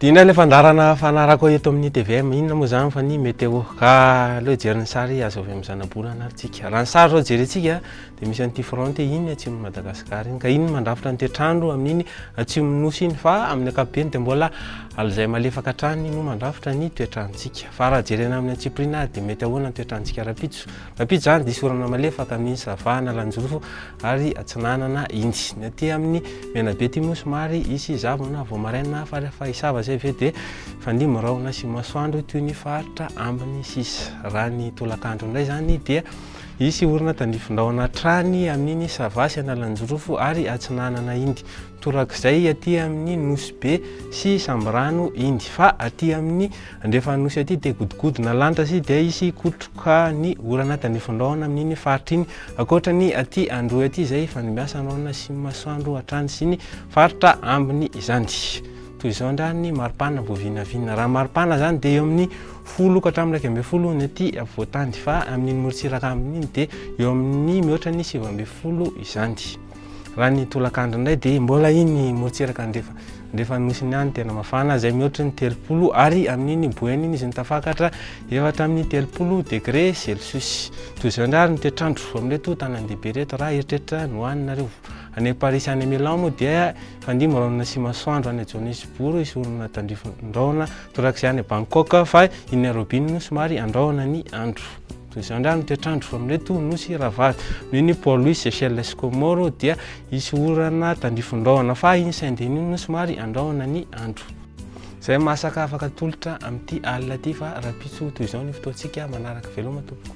Dina ilay fandarana fanarako eto amin'ny TVM, inona moa izany fa ny météo. Ka aleo hijery ny sary azo avy amin'ny zanabolana ary tsika. Raha ny sary izao jerentsika Dia misy an'ity fronte iny atsimon'i Madagasikara iny, ka iny no mandrafitra ny toetr'andro amin'iny atsimon'ny Nosy iny, fa amin'ny ankapobeny dia mbola alizay malefaka hatrany no mandrafitra ny toetr'androntsika. Fa raha jerena amin'ny antsipiriany ary dia mety ahoana ny toetr'androntsika rahampitso? Rahampitso izany diso orana malefaka amin'iny Sava, Analanjirofo ary Atsinanana iny. Ny aty amin'ny Menabe aty moa somary hisy zavona vao maraina, fa rehefa hisava izay avy eo dia fanimby ny rahona sy masoandro toy ny faritra ambiny sisa. Raha ny tolakandro indray izany dia. Hisy orana tandrifindrahona hatrany amin'iny Sava sy Analanjirofo ary Atsinanana iny, torak'izay aty amin'ny Nosy Be sy Sambirano iny. Fa aty amin'ny andrefan'ny Nosy aty dia godigodina lanitra sy dia hisy hikotroka ny orana tandrifindrahona amin'iny faritra iny. Ankoatra ny aty Androy aty izay ifandimbiasan'ny rahona sy ny masoandro hatrany sy ny faritra ambiny izany. Toy izao indray ny maripana vao vinavina. Raha ny maripana izany dia eo amin'ny folo ka hatramin'ny iraika ambin'ny folo ny aty afovoan-tany fa amin'iny morontsiraka amin'iny dia eo amin'ny mihoatra ny sivy ambin'ny folo izany. Raha ny tolakandro indray dia mbola iny morontsiraka andrefa andrefa nosy ny any tena mafana izay mihoatra ny telopolo ary amin'iny boeny iny izy ny tafakatra efatra amin'ny telopolo degre celsius. Toy izao indray ny toetrandro amin'ireto tanandehibe ireto raha eritreritra ny ho aninareo. Any Amparisy any Milan moa dia fandimby raonina sy masoandro any Johannesburg hisorona tandrifin-drahona torak'izay any Bangkok fa i Nairobi no somary andrahona ny andro. Toy izao indray ny toetr'andro amin'ireto nosy ravavy. Noho ny Port Louis, Seychelles sy Comores dia hisy orana tandrifin-drahona fa iny Saint-Denis iny no somary andrahona ny andro. Izay masaka afaka atolotra amin'ity alina ity fa rahampitso toy izao ny fotoantsika manaraka. Veloma tompoko.